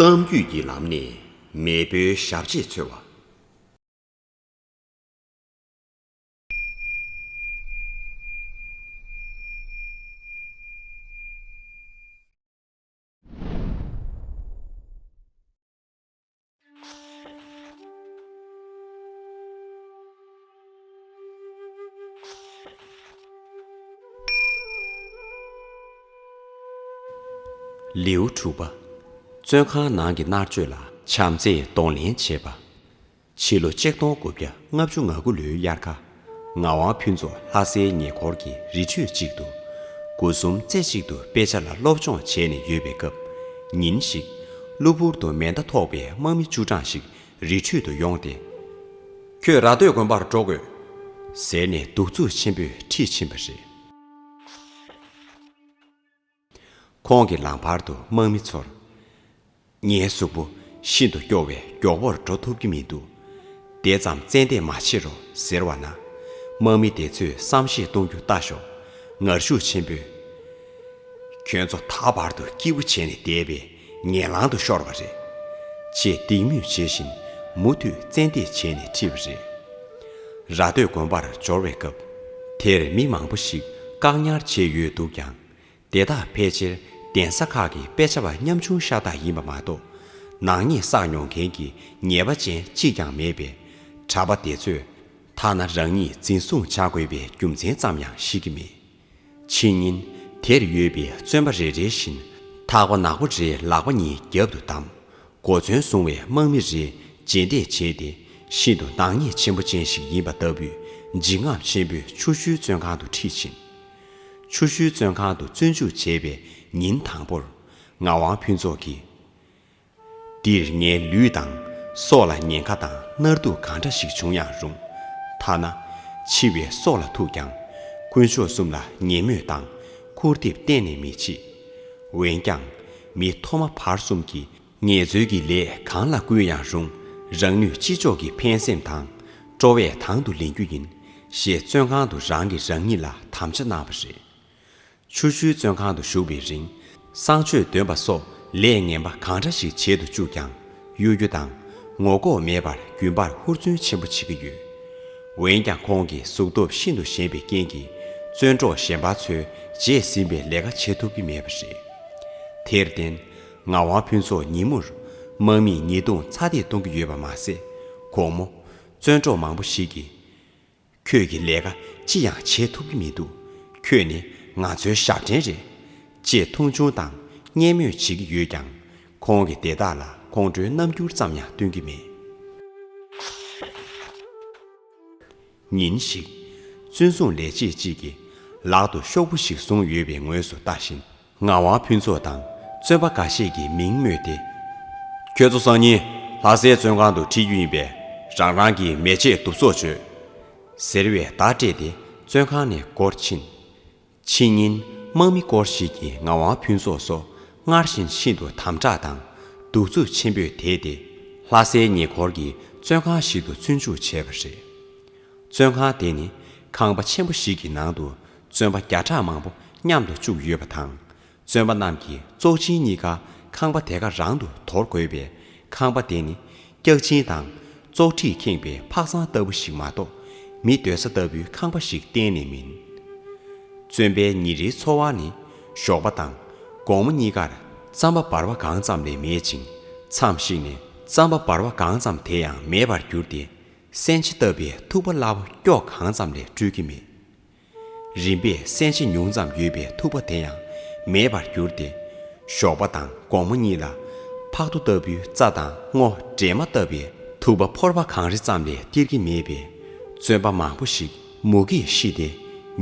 གཏམ་རྒྱུད་ཀྱི་ལམ་ནས་མེས་པོའི་ཞབས་རྗེས་འཚོལ་བ། ལེའུ་དྲུག་པ། བཙོན་ཁང་ནང་གི་མནར་གཅོད་ལ། བྱམས་བརྩེས་གདོང་ལེན་བྱེད་པ། ཕྱི་ལོ་ཆིག་སྟོང་དགུ་བརྒྱ་ལྔ་བཅུ་ང་དགུ་ལོའི་དབྱར་ཁ། ངག་དབང་ཕུན་ཚོགས་ལྷ་སའི་ཉེ་འཁོར་གྱི་རི་ཁྲོད་ཅིག་ཏུ། དགུ་གསུམ་རྩེ་གཅིག་ཏུ་དཔེ་ཆ་ལ་སློབ་སྦྱོང་བྱས་ནས་ཡོད་པའི་སྐབས། ཉིན་ཞིག། གློ་བུར་དུ་མེ་མདའ་ཐོགས་པའི་དམག་མི་བཅུ་གྲངས་ཤིག་རི་ཁྲོད་དུ་ཡོང་སྟེ། ཁྱོད་ར་སྟོད་དགོན་པར་འགྲོ་དགོས། ཟེར་ནས་གདུག་རྩུབ་ཆེན་པོས་ཁྲིད་ཕྱིན་པ་རེད། ཁོང་གི་ལམ་བར་དུ་དམག་མི་ཚོར། ངའི་གཟུགས་པོ་ཤིན་ཏུ་སྐྱོ་བས་མགྱོགས་པོར་འགྲོ་ཐུབ་ཀྱི་མི་འདུག་དེ་ཙམ་བཙན་འདེད་མ་བྱེད་རོགས་ཟེར་བ་ན། དམག་མི་དེ་ཚོས་བསམ་ཤེས་གཏོང་རྒྱུ་ལྟ་ཞོག་ངར་ཤུགས་ཆེན་པོས། ཁྱོད་ཚོ་ད་བར་དུ་སྐྱིད་པོ་བྱས་ནས་བསྡད་པས་ངན་ལང་དུ་ཤོར་བ་རེད། ཅེས་སྡིགས་དམོད་བྱེད་བཞིན་མུ་མཐུད་བཙན་འདེད་བྱས་ནས་ཁྲིད་པ་རེད། ར་སྟོད་དགོན་པར་འབྱོར་བའི་སྐབས་དེར་མི་མང་པོ་ཞིག་བཀག་ཉར་བྱས་ཡོད་འདུག་ཀྱང། དེ་དག་ཕལ་ཆེར་གདན་ས་ཁག་གི་དཔེ་ཆ་བ་ཉམ་ཆུང་ཤ་སྟག་ཡིན་པ་མ་གཏོགས། ནག་ཉེས་བསགས་མྱོང་མཁན་གྱི་ཉེས་པ་ཅན་གཅིག་ཀྱང་མེད་པས། གྲྭ་པ་དེ་ཚོས་ཐ་ན་རང་ཉིད་འཛིན་བཟུང་བྱ་དགོས་པའི་རྒྱུ་མཚན་ཙམ་ཡང་ཤེས་ཀྱི་མེད། ཕྱི་ཉིན་དེར་ཡོད་པའི་བཙོན་པ་རེ་རེ་བཞིན་ཐག་པ་ནག་པོ་རེ་ལག་པ་གཉིས་རྒྱབ་ཏུ་བསྡམས། གོ་མཚོན་བཟུང་བའི་དམག་མི་རེ་རྗེས་འདེད་བྱས་ཏེ་ཤིན་ཏུ་ནག་ཉེས་ཆེན་པོ་ཅན་ཞིག་ཡིན་པ་ལྟ་བུས་འཇིགས་རྔམ་ཆེན་པོས་ཆུ་ཤུལ་བཙོན་ཁང་དུ་ཁྲིད་ཕྱིན། ཆུ་ཤུལ་བཙོན་ཁང་དུ་བཙོན་འཇུག་བྱས་པའི་ཉིན་དང་པོར། ངག་དབང་ཕུན་ཚོགས་ཀྱིས། འདིར་ངའི་ལུས་དང་སྲོག་ལ་ཉེན་ཁ་དང་མནར་སྡུག་གང་འདྲ་ཞིག་བྱུང་ཡང་རུང། ཐ་ན། འཆི་བའི་སྲོག་ལ་ཐུག་ཀྱང། དཀོན་མཆོག་གསུམ་ལ་ངན་སྨོད་དང་འཁུར་འདེབས་གཏན་ནས་མི་བྱེད། འོན་ཀྱང། མི་ཐོག་མ་བར་གསུམ་གྱི། ངལ་རྩོལ་གྱི་ལས་གང་ལ་བསྐུལ་ཡང་རུང་རང་ནུས་ཅི་ལྕོགས་ཀྱིས་ཕན་སེམས་དང་སྤྲོ་བས་དང་དུ་ལེན་རྒྱུ་ཡིན། ཞེས་བཙོན་ཁང་དུ་རང་གིས་རང་ཉིད་ལ་དམ་བཅའ་གནང་བ་རེད། ཆུ་ཤུལ་བཙོན་ཁང་དུ་བཞུགས་པའི་རིང་གསང་སྤྱོད་འདོན་པ་སོགས་ལས་ངན་པ་གང་འདྲ་ཞིག་བྱེད་དུ་བཅུག་ཀྱང་གཡོ་སྒྱུ་དང་ངོ་ལྐོག་མེད་པར་རྒྱུན་པར་ཧུར་བརྩོན་ཆེན་པོ་བྱེད་ཀྱི་ཡོད། འོན་ཀྱང་ཁོང་གི་གཟུགས་སྟོབས་ཤིན་ཏུ་ཞན་པའི་རྐྱེན་གྱིས་བཙོན་གྲོགས་གཞན་པ་ཚོས་བརྗེད་ཟིན་པའི་ལས་ཀ་བྱེད་ཐུབ་ཀྱི་མེད་པ་རེད། དེར་བརྟེན། ངག་དབང་ཕུན་ཚོགས་ཉིན་མོར། དམག་མིས་ཉེས་རྡུང་ཚ་འདེད་གཏོང་གི་ཡོད་པ་མ་ཟད། ཁོང་མོ། བཙོན་གྲོགས་མང་པོ་ཞིག་གིས། ཁྱོད་ཀྱིས་ལས་ཀ་ཅི་ཡང་བྱེད་ཐུབ་ཀྱི་མི་འདུག་ཁྱོད་ནི་ང་ཚོའི་ཞབས་འདྲེན་རེད། ཅེས་མཐོང་ཆུང་དང་བརྙས་སྨོད་བྱེད་ཀྱི་ཡོད་ཀྱང། ཁོང་གིས་དེ་དག་ལ་ཁོང་ཁྲོའི་རྣམ་འགྱུར་ཙམ་ཡང་སྟོན་གྱི་མེད། ཉིན་ཞིག། བཙོན་སྲུང་ལས་བྱེད་ཅིག་གིས། ལག་ཏུ་ཤོག་བུ་ཞིག་བཟུང་ཡོད་པའི་ངོས་སུ་ལྟ་བཞིན། ངག་དབང་ཕུན་ཚོགས་དང་བཙོན་པ་འགའ་ཤས་ཀྱིས་མིང་སྨོས་ཏེ། ཁྱོད་ཚོ་སང་ཉིན་ལྷ་སའི་བཙོན་ཁང་དུ་ཁྲིད་རྒྱུ་ཡིན་པས་རང་རང་གི་མལ་ཆས་གདུབ་བཙོག་བྱོས། ཟེར་བའི་བརྡ་སྤྲད་དེ་བཙོན་ཁང་ནས་བསྐོར་ཕྱིན། ཕྱི་ཉིན་དམག་མི་སྐོར་ཞིག་གིས་ངག་དབང་ཕུན་ཚོགས་སོ་སྔར་བཞིན་ཤིན་ཏུ་དམ་དྲག་དང་གདུག་རྩུབ་ཆེན་པོས་དེད་དེ་ལྷ་སའི་ཉེ་འཁོར་གྱི་བཙོན་ཁང་ཞིག་ཏུ་བཙོན་འཇུག་བྱས་པ་རེད། བཙོན་ཁང་དེ་ནི་ཁང་པ་ཆེན་པོ་ཞིག་གི་ནང་དུ་བཙོན་པ་བརྒྱ་ཕྲག་མང་པོ་མཉམ་དུ་བཅུག་ཡོད་པ་དང། བཙོན་པ་རྣམས་ཀྱིས་བཙོག་ཆིན་གཉིས་ཀ་ཁང་པ་དེ་ག་རང་དུ་དོར་དགོས་པས་ཁང་པ་དེ་ནི་སྐྱག་ཆིན་དང། བཙོག་ཁྲིས་ཁེངས་པའི་ཕག་ཚང་ལྟ་བུ་ཞིག་མ་གཏོགས་མི་སྡོད་ས་ལྟ་བུའི་ཁང་པ་ཞིག་གཏན་ནས་མིན། བཙོན་པའི་ཉིན་རེའི་འཚོ་བ་ནི་ཞོགས་པ་དང་དགོང་མོ་གཉིས་ཀར་རྩམ་པ་འབར་བ་གང་ཙམ་ལས་མེད་ཅིང་མཚམས་ཤིག་ནས་རྩམ་པ་འབར་བ་གང་ཙམ་དེ་ཡང་མེད་པར་གྱུར་ཏེ། སྲན་ཕྱེ་བཏབ་པའི་ཐུག་པ་སླ་བོ་སྐྱོགས་གང་ཙམ་ལས་སྤྲུལ་གྱི་མེད། རིམ་པས་སྲན་ཕྱེ་ཉུང་ཙམ་ཡོད་པའི་ཐུག་པ་དེ་ཡང་མེད་པར་གྱུར་ཏེ། ཞོགས་པ་དང་དགོང་མོ་གཉིས་ལ། ཕག་ཐོ་ལྟ་བུའི་རྩ་དང་སྔོ་སྦྲེ་མ་བཏབ་པའི་ཐུག་པ་ཕོར་བ་གང་རེ་ཙམ་ལས་སྟེར་གྱི་མེད་པས། བཙོན་པ་མང་པོ་ཞིག་མུ་གེས་ཤི་སྟེ་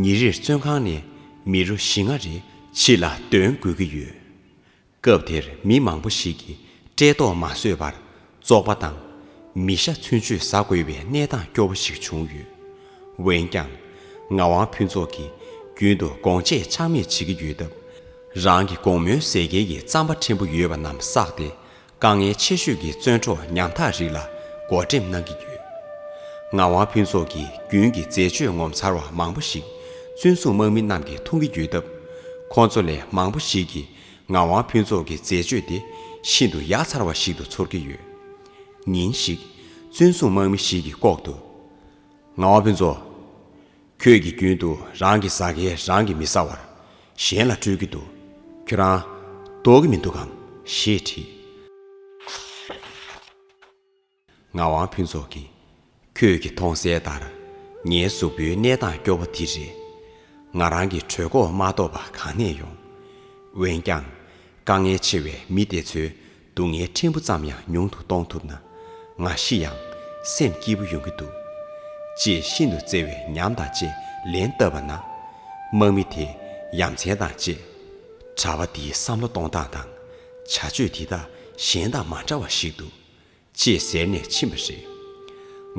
ཉིན་རེར་བཙོན་ཁང་ནས་མི་རོ་བཞི་ལྔ་རེ་ཕྱི་ལ་འདོན་དགོས་ཀྱི་ཡོད། སྐབས་དེར་མི་མང་པོ་ཞིག་གིས་བཀྲེས་ལྟོགས་མ་བཟོད་པར་བཙོག་པ་དང། མི་ཤ་ཚུན་ཆོད་བཟའ་དགོས་པའི་གནས་སྟངས་སྐྱོ་བོ་ཞིག་བྱུང་ཡོད། འོན་ཀྱང། ངག་དབང་ཕུན་ཚོགས་ཀྱིས་རྒྱུན་དུ་དགོངས་དཔྱད་ཆག་མེད་བྱེད་ཀྱི་ཡོད་སྟབས། རང་གི་དགོངས་མོའི་ཟས་སྐལ་གྱི་རྩམ་པ་ཕྲན་བུ་ཡོད་པ་རྣམས་བསགས་ཏེ་དཀའ་ངལ་ཆེ་ཤོས་ཀྱི་བཙོན་གྲོགས་ཉམ་ཐག་རིགས་ལ་བགོ་འགྲེམས་གནང་གི་ཡོད། ངག་དབང་ཕུན་ཚོགས་ཀྱིས་རྒྱུན་གྱི་འཛད་སྤྱོད་ངོ་མཚར་བ་མང་པོ་ཞིག་བཙོན་སྲུང་དམག་མི་རྣམས་ཀྱིས་འཐུང་གི་ཡོད་སྟབས། ཁོང་ཚོ་ལས་མང་པོ་ཞིག་གིས་ངག་དབང་ཕུན་ཚོགས་ཀྱི་མཛད་སྤྱོད་དེ་ཤིན་ཏུ་ཡག་ཚར་བ་ཞིག་ཏུ་ཚོར་གྱི་ཡོད། ཉིན་ཞིག། བཙུན་བཟུང་དམག་མི་ཞིག་གིས་ལྐོག་ཏུ། ངག་དབང་ཕུན་ཚོགས། ཁྱོད་ཀྱིས་རྒྱུན་དུ་རང་གི་ཟ་མཁན་རང་གིས་མི་ཟ་བར། གཞན་ལ་སྤྲོད་ཀྱི་འདུག་ཁྱོད་རང། ལྡོག་གི་མི་འདུག་གམ། ཞེས་དྲིས། ངག་དབང་ཕུན་ཚོགས་ཀྱིས། ཁྱོད་ཀྱིས་མཐོང་གསལ་ལྟར། ངའི་གཟུགས་པོའི་གནས་སྟངས་སྐྱོ་བོ་དེ་རེད། ང་རང་གི་གྲོད་ཁོག་མ་གཏོགས་པ་གང་ནས་ཡོང། འོན་ཀྱང། དཀའ་ངལ་ཆེ་བའི་མི་དེ་ཚོའི་སྡུག་བསྔལ་ཕྲན་བུ་ཙམ་ཡང་ཉུང་དུ་གཏོང་ཐུབ་ན། ང་ཤི་ཡང་སེམས་སྐྱིད་པོ་ཡོང་གི་འདུག། ཅེས་ཤིན་ཏུ་བརྩེ་བའི་ཉམས་དང་བཅས་ལན་བཏབ་པ་ན། དམག་མི་དེས་ཡ་མཚན་དང་བཅས། གྲྭ་པ་འདིའི་བསམ་བློ་གཏོང་སྟངས་དང་བྱ་སྤྱོད་འདི་དག་གཞན་དང་མ་འདྲ་བ་ཞིག་འདུག་ཅེས་ཟེར་ནས་ཕྱིན་པ་རེད།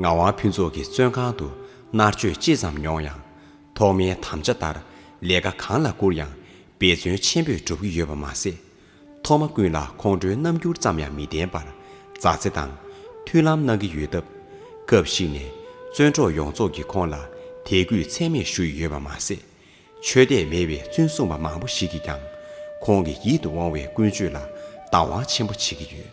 ངག་དབང་ཕུན་ཚོགས་ཀྱིས་བཙོན་ཁང་དུ་མནར་གཅོད་ཅི་ཙམ་མྱོང་ཡང། ཐོག་མའི་དམ་བཅའ་ལྟར་ལས་ཀ་གང་ལ་བསྐུར་ཡང་འབད་བརྩོན་ཆེན་པོས་སྒྲུབ་ཀྱི་ཡོད་པ་མ་ཟད། ཐོག་མ་ཀུན་ལ་ཁོང་ཁྲོའི་རྣམ་འགྱུར་ཙམ་ཡང་མི་བསྟན་པར་མཛའ་བརྩེ་དང་མཐུན་ལམ་གནང་གི་ཡོད་སྟབས། སྐབས་ཤིག་ནས་བཙོན་གྲོགས་ཡོངས་རྫོགས་ཀྱིས་ཁོང་ལ་དད་གུས་ཚད་མེད་ཞུ་ཡི་ཡོད་པ་མ་ཟད། ཆོས་དད་མེད་པའི་བཙུན་སྲུང་པ་མང་པོ་ཞིག་གིས་ཀྱང་ཁོང་གི་ཡིད་དུ་འོང་བའི་ཀུན་སྤྱོད་ལ་བདག་དབང་ཆེན་པོ་བྱེད་ཀྱི་ཡོད།